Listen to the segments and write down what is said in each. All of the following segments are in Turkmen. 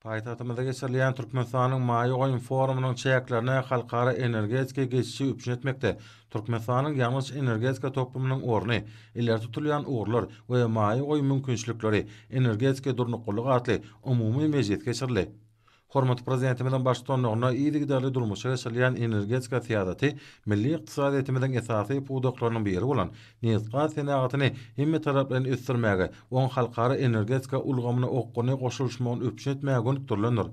Paýtagtymyzda geçirilýän Türkmenistanyň maýa goýum forumynyň çäklerine halkara energetika geçişi üpjün etmekde Türkmenistanyň ýangyç-energetika toplumynyň orny, ileri tutulýan ugurlar we maýa goýum mümkinçilikleri, energetika durnuklylygy atly umumy mejlis geçirildi. Hormatly Prezidentimiziň baştutanlygynda yzygiderli durmuşa geçirilýän energetika syýasaty milli ykdysadyýetimiziň esasy pudaklarynyň biri bolan nebitgaz senagatyny hemmetaraplaýyn ösdürmäge, oň halkara energetika ulgamyna okgunly goşulyşmagyny üpjün etmäge gönükdirilendir.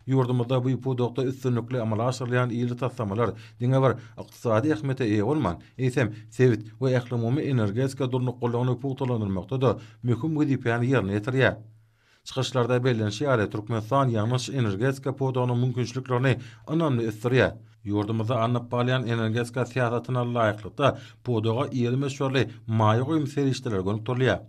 Ýurdumyzda bu pudakda üstünlikli amala aşyrylýan ýyly taslamalar diňe bir ykdysady ähmiýete eýe bolman, eýsem, sebit we ählumumy energetika durnuklylygyny pugtalandyrmakda-da möhüm wezipäni ýerine ýetirýär. Çykyşlarda bellenişi ýaly, Türkmenistan ýangyç energetika pudagynyň mümkinçiliklerini ynamly ösdürýär. Ýurdumyzda alnyp barylýan energetika syýasatyna laýyklykda, pudaga iri möçberli maýa goýum serişdeleri gönükdirilýär.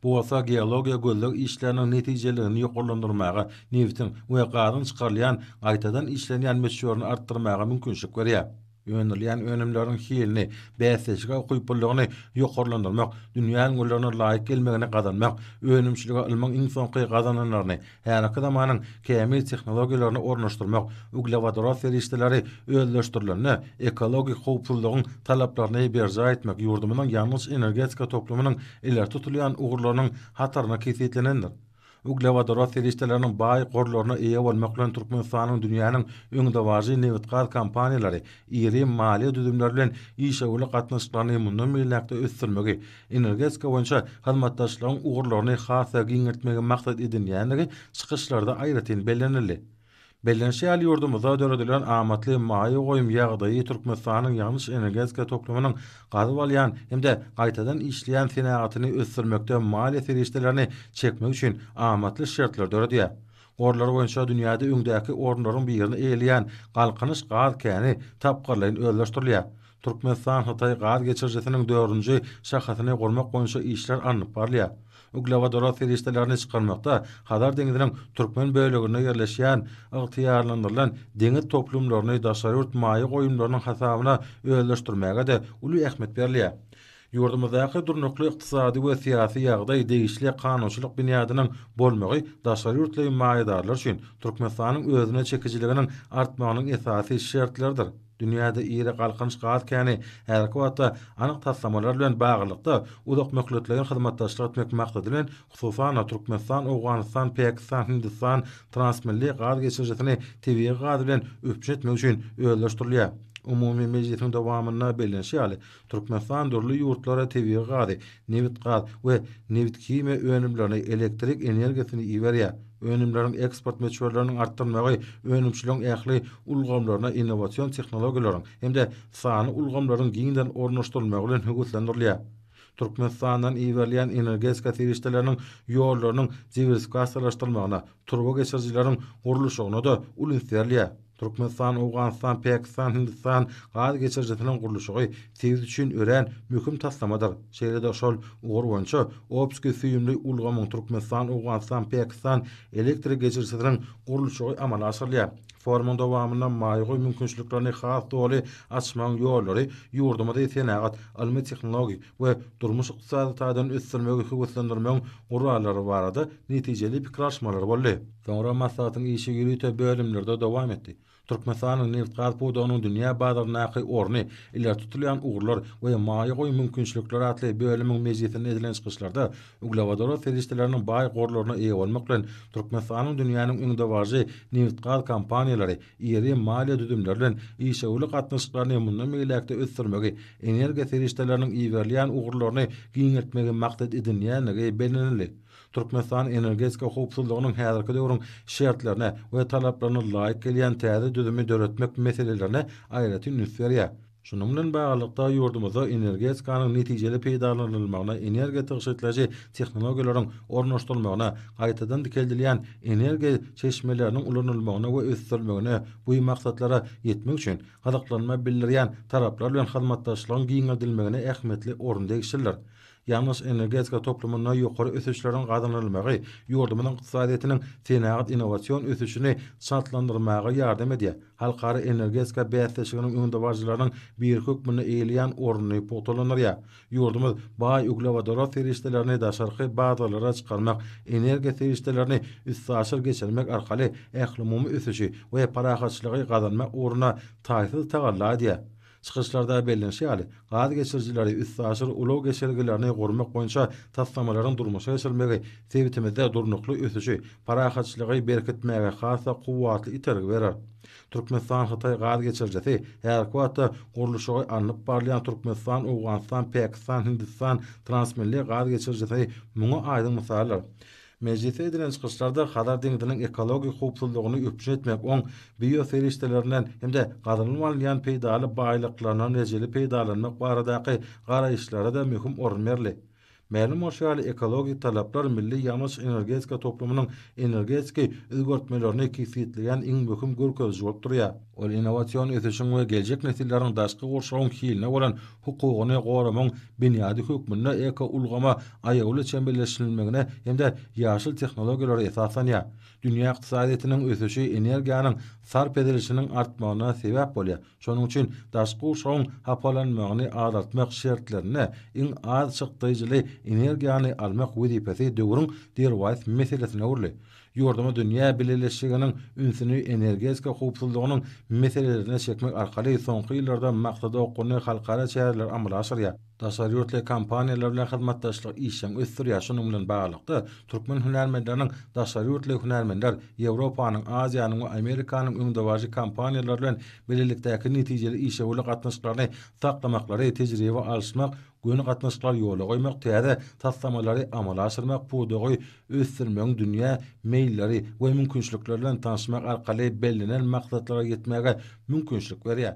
Bu bolsa geologiýa-gözleg işleriniň netijeliligini ýokarlandyrmaga, nebitiň we gazyň çykarylýan, gaýtadan işlenýän möçberini artdyrmaga mümkinçilik berýär. Öndürilýän önümleriň hilini, bäsdeşlige ukyplylygyny ýokarlandyrmak, dünýä ülňülerine laýyk gelmegini gazanmak, önümçilige ylmyň iň soňky gazananlaryny, häzirki zamanyň kämil tehnologiýalaryny ornaşdyrmak, uglewodorod serişdeleri özleşdirilende, ekologik howpsuzlygyň talaplaryny berjaý etmek ýurdumyzyň ýangyç-energetika toplumynyň ileri tutulýan ugurlarynyň hataryna kesgitlenendir. Uglewodorod serişdeleriniň baý gorlaryna eýe bolmak bilen Türkmenistanyň dünýäniň öňdebaryjy nebitgaz kompaniýalary iri maliýe düzümleri bilen işewürlik gatnaşyklaryny mundan beýläk-de ösdürmegi, energetika boýunça hyzmatdaşlygyň ugurlaryny has-da giňeltmegi maksat edinýändigi çykyşlarda aýratyn bellenildi. Bellenişi ýaly, ýurdumyzda döredilen amatly maýa goýum ýagdaýy Türkmenistanyň ýanyş-energetika toplumynyň gazyp alýan hem-de gaýtadan işleýän senagatyny ösdürmekde maliýe serişdelerini çekmek üçin amatly şertleri döredýär. Gorlary boýunça dünýäde öňdäki orunlaryň birini eýeleýän Galkynyş gaz käni tapgyrlaýyn özleşdirilýär. Türkmenistan-Hytaý gaz geçirijisiniň dördünji şahasyny gurmak boýunça işler alnyp barylýar. Uglewodorod serişdelerini çykarmakda Hazar deňziniň türkmen böleginde ýerleşýän ygtyýarlandyrylan deňiz toplumlaryny daşary ýurt maýa goýumlarynyň hasabyna özleşdirmäge-de uly ähmiýet berilýär. Ýurdumyzdaky durnukly ykdysady we syýasy ýagdaý, degişli kanunçylyk binýadynyň bolmagy daşary ýurtly maýadarlar üçin Türkmenistanyň özüne çekijiliginiň artmagynyň esasy şertleridir. Dünýäde iri Galkynyş gaz käni häzirki wagtda anyk taslamalar bilen baglylykda uzak möhletleýin hyzmatdaşlyk etmek maksady bilen, hususan-da, Türkmenistan, Owganystan, Päkistan, Hindistan transmilli gaz geçirijisini tebigy gaz bilen üpjün etmek üçin özleşdirilýär. Umumy mejlisiň dowamynda bellenişi ýaly, Türkmenistan dürli ýurtlara tebigy gazy, nebitgaz we nebithimiýa önümlerini, elektrik energiýasyny iberýär. Önümleriň eksport möçberleriniň artdyrylmagy önümçiligiň ähli ulgamlaryna innowasion tehnologiýalaryň hem-de sanly ulgamlaryň giňden ornaşdyrylmagy bilen höweslendirilýär. Türkmenistandan iberilýän energetika serişdeleriniň ýollarynyň diwersifikasiýalaşdyrylmagyna, Turba geçirijileriň gurluşygyna-da uly üns berilýär. Türkmenistan, Owganystan, Pakistan, Hindistan gaz geçirijisiniň gurluşygy sebit üçin örän möhüm taslamadyr. Şeýle-de şol ugur boýunça Obskiý süýümli ulgamyň Türkmenistan, Owganystan, Pakistan elektrik geçirijisiniň gurluşygy amala aşyrylýar. Forumyň dowamynda maýagoý mümkinçiliklerini has doly açmagyň ýollary ýurdumyzy senagat, ylmy-tehnologik, we durmuş-ykdysady taýdan ösdürmegi höweslendirmegiň gurallary barada netijeli pikir alyşmalar boldy. Soňra maslahatyň işi ýörite bölümlerde dowam etdi. Türkmenistanyň nebit-gaz pudagynyň dünýä bazaryndaky orny, ileri tutulýan ugurlar we maýa goýum mümkinçilikleri atly bölümiň mejlisinde edilen çykyşlarda uglewodorod serişdeleriniň baý gorlaryna eýe bolmak bilen, Türkmenistanyň dünýäniň öňdebaryjy nebit-gaz kompaniýalary, iri maliýe düzümleri bilen işewürlik gatnaşyklaryny mundan beýläk-de ösdürmegi, energiýa serişdeleriniň iberilýän ugurlaryny giňeltmegi maksat edinýändigi bellenildi. Türkmenistan energetika howpsuzlygynyň häzirki döwrüň şertlerine we talaplaryna laýyk gelýän täze düzümi döretmek meselelerine aýratyn üns berýär. Şunuň bilen baglylykda, ýurdumyzda energetikanyň netijeli peýdalanylmagyna, energiýa tygşytlaýjy tehnologiýalaryň ornaşdyrylmagyna, gaýtadan dikeldilýän energiýa çeşmeleriniň ulanylmagyna we ösdürilmegine, bu maksatlara ýetmek üçin gyzyklanma bildirýän taraplar bilen hyzmatdaşlygyň giňeldilmegine ähmiýetli orun degişlidir. Ýangyç energetika toplumynda ýokary ösüşleriň gazanylmagy ýurdumyzyň ykdysadyýetiniň senagat-innowasion ösüşini çaltlandyrmaga ýardam edýär, halkara energetika bäsleşiginiň öňdebaryjylarynyň biri hökmünde eýeleýän ornuny pugtalandyrýar. Ýurdumyz baý uglewodorod serişdelerini daşarky bazarlara çykarmak, energiýa serişdelerini üstaşyr geçirmek arkaly ählumumy ösüşi we parahatçylygy gazanmak ugruna taýsyz tagalla edýär. Çykyşlarda bellenişi ýaly, gaz geçirijileri, üstaşyr ulag geçelgelerini gurmak boýunça taslamalaryň durmuşa geçirilmegi sebitimizde durnukly ösüşi, parahatçylygy berkitmäge has-da kuwwatly itergi berer. Türkmenistan-Hytaý gaz geçirijisi häzirki wagtda gurluşygy alnyp barylýan Türkmenistan-Owganystan-Pakistan-Hindistan transmilli gaz geçirijisi muňa aýdyň mysaldyr. Mejlisde edilen çykyşlarda Hazar deňziniň ekologik howpsuzlygyny üpjün etmek, oň bioserişdelerinden hem-de gazynyp alynýan peýdaly baýlyklaryndan rejeli peýdalanmak baradaky garaýyşlara-da möhüm orun berli. Mälim bolşy ýaly, ekologik talaplar milli ýangyç-energetika toplumynyň energetiki özgertmelerini kesgitleýän iň möhüm görkeziji bolup durýar. Ol innowasion ösüşiň we geljek nesilleriň daşky gurşawyň hiline bolan hukugyny goramagyň binýady hökmünde ekoulgama aýawly çemeleşdirilmegine hem-de ýaşyl tehnologiýalara esaslanýar. Dünýä ykdysadyýetiniň ösüşi energiýanyň sarp edilişiniň artmagyna sebäp bolýar, şonuň üçin daşky gurşawyň hapalanmagyny azaltmak şertlerinde iň az çykdaýjyly energiýany almak wezipesi döwrüň derwaýys meselesine öwrüldi. Ýurdumyz dünýä bileleşiginiň ünsüni energetika howpsuzlygynyň meselelerine çekmek arkaly soňky ýyllarda maksada okgunly halkara çäreleri amala aşyrýar. Daşary ýurtly kompaniýalar bilen hyzmatdaşlyk işjeň ösdürýär, şunuň bilen baglylykda, türkmen hünärmenleriniň daşary ýurtly hünärmenler, Ýewropanyň, Aziýanyň we Amerikanyň öňdebaryjy kompaniýalary bilen bilelikdäki netijeli işewürlik gatnaşyklaryny saklamaklary, tejribe alyşmak Göni gatnaşyklary ýola goýmak, täze taslamalary amala aşyrmak, pudagy ösdürmegiň dünýä meýilleri we mümkinçilikleri bilen tanyşmak arkaly bellenen maksatlara ýetmäge mümkinçilik berýär.